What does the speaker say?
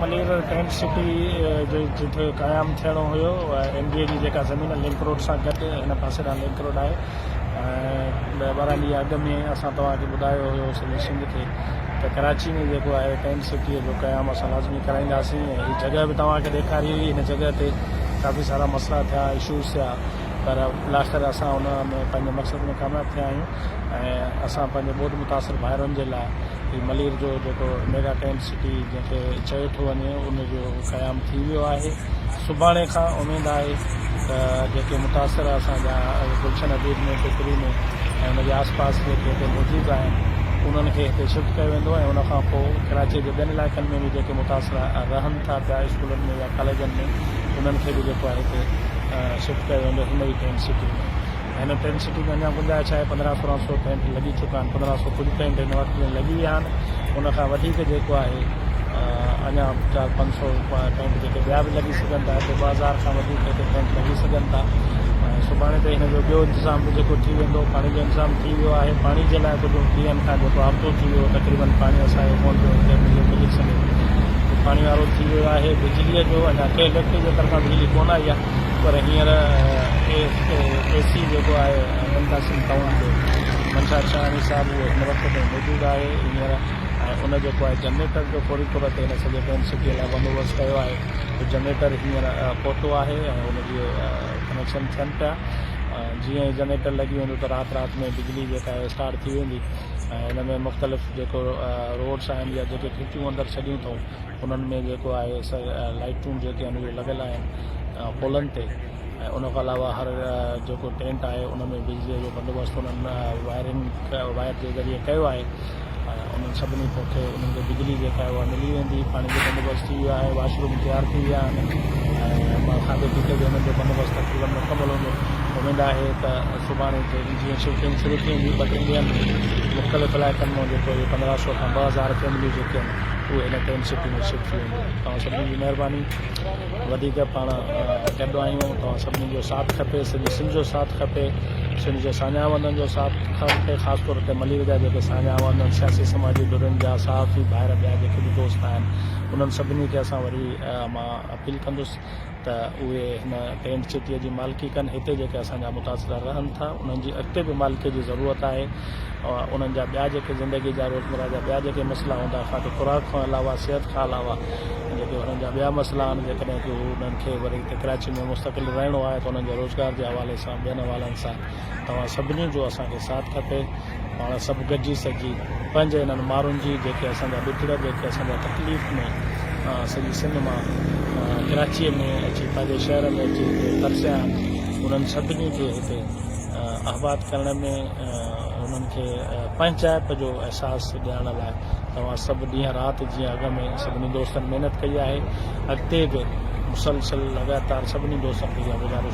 Malir tent city جي جتي قيام ٿيڻو هيو ايم بي اي جي جيڪا زمين لنڪ روڊ سان گڏ هن پاسي ڏانهن لنڪ روڊ آهي ۽ ڏهه ٻارهن ڏينهن اڳ ۾ اسان توهان کي ٻڌايو هيو سڄي سنڌ کي ته ڪراچي ۾ جيڪو آهي ٽينٽ سٽي جو قيام اسان لازمي ڪرائينداسين ۽ هي جڳهه به توهان کي ڏيکاري هئي هن جڳهه تي ڪافي سارا مسئلا ٿيا اشوز ٿيا پر الاخر اسان ان ۾ پنهنجي مقصد ۾ ڪامياب ٿيا آهيون ۽ اسان پنهنجي ٻوڏ متاثر ڀائرن جي لاء هي ملير جو جيڪو ميگا ٽينٽ پارٽي جنهن کي چيو ٿو وڃي ان جو قيام ٿي ويو آهي سڀاڻي کان اميد آهي ته جيڪي متاثر اسان جا گلشن حبيب ۾ ٽڪري ۾ ۽ ان جي آس پاس جيڪي هتي موجود آهن انهن کي هتي شفٽ ڪيو ويندو ۽ ان کان پوء ڪراچي جي ٻين علائقن ۾ به جيڪي متاثر رهن ٿا پيا اسڪولن ۾ يا ڪاليجن ۾ انهن کي به جيڪو آهي هتي شفٽ ڪيو ويندو هن ئي ٽينٽ سٽي ۾ هن ٽين سٽين ۾ اڃا گنجائش آهي، پندرهن سورهن سو پينٽ لڳي چڪا آهن، پندرهن سو ڪجهه پينٽ هن وقت ۾ لڳي ويا آهن، ان کان وڌيڪ جيڪو آهي اڃا چار پنج سو پينٽ جيڪي ٻيا به لڳي سگهن ٿا، هتي ٻه هزار کان وڌيڪ هتي پينٽ لڳي سگهن ٿا، سڀاڻي تائين هن جو ٻيو انتظام به جيڪو ٿي ويندو، پاڻي جو انتظام ٿي ويو آهي، پاڻي جي لاء ڪجهه ڏينهن کان جيڪو هفتو ٿي ويو تقريبن پاڻي اسان کي ڪونه پيو اچي، مليو ملڪ سميت پاڻي وارو ٿي ويو آهي، بجلي جو اڃا ڪنهن ايليڪٽرڪ جي طرفان بجلي ڪونه آئي آهي. پر هينئر اي اي سي جيڪو آهي ابوالحسن قاسم تنور جو منشا ارساڻي صاحب اهو هن وقت تائين موجود آهي هينئر ۽ ان جيڪو آهي جنريٽر جو فوري طور تي هن سڄي ٽينٽ سٽي لاء بندوبست ڪيو آهي جو جنريٽر هينئر پهتو آهي ۽ ان جي ڪنيڪشن ٿين پيا جيئن ئي جنريٽر لڳي ويندو ته رات رات ۾ بجلي جيڪا آهي اسٽارٽ ٿي ويندي ۽ ان ۾ مختلف جيڪو روڊس آهن يا جيڪي کچون اندر ڇڏيون اٿئون انهن ۾ جيڪو آهي سا لائيٽون جيڪي آهن اهي لڳل آهن پولن تي ۽ ان کان علاوه هر جيڪو ٽينٽ آهي ان ۾ بجليء جو بندوبست انهن وائرنگ وائر جي ذريعي ڪيو آهي ۽ انهن سڀني کي انهن کي بجلي جيڪا آهي اها ملي ويندي پاڻي جو بندوبست ٿي ويو آهي واش روم تيار ٿي ويا آهن ۽ کاڌي پيتي جو انهن جو بندوبست تقريبن مڪمل هوندو اميد آهي ته سڀاڻي تي جيئن شفٽنگ شروع ٿي ويندي ٻه ٽن ڏينهن ۾ مختلف علائقن مان جيڪو هي پندرهن سو کان ٻه هزار فيمليون جيڪي آهن اهو هن ٽيم سٽي ۾ شفٽ ٿي ويندو توهان سڀني جي مهرباني وڌيڪ پاڻ گڏ آهيون توهان سڀني جو ساٿ کپي سڄي سنڌ جو ساٿ کپي سنڌ جي ساڃاهه وندن جو ساٿ کپي خاص طور تي ملير جا جيڪي ساڃاهه وندن سياسي سماجي ڌرين جا صحافي ڀائر ٻيا جيڪي به دوست آهن انهن سڀني کي اسان وري مان اپيل ڪندس ته اهي هن ٽينٽ سٽيء جي مالڪي ڪن، هتي جيڪي اسان جا متاثره رهن ٿا، انهن جي اڳتي به مالڪيء جي ضرورت آهي. انهن جا ٻيا جيڪي زندگيء جا روزمره جا ٻيا جيڪي مسئلا هوندا، خاڪ خوراڪ کان علاوه، صحت کان علاوه جيڪي انهن جا ٻيا مسئلا آهن، جيڪڏهن ڪو انهن کي وري هتي ڪراچيء ۾ مستقل رهڻو آهي ته انهن جي روزگار جي حوالي سان ٻين حوالن سان توهان سڀني جو اسان کي ساٿ کپي. پاڻ سڀ گڏجي سگهي پنهنجي انهن مارن جي جيڪي اسان جا ڏتڙ جيڪي اسان جا تڪليف ۾ سڄي سنڌ مان ڪراچيء ۾ اچي پنهنجي شهر ۾ اچي هتي ترسيا آهن انهن سڀني کي هتي آباد ڪرڻ ۾ انهن کي پنهنچائپ جو احساس ڏيارڻ لاء توهان سڀ ڏينهن رات جيئن اڳ ۾ سڀني دوستن محنت ڪئي آهي اڳتي به مسلسل لڳاتار سڀني دوستن کي اها گذارش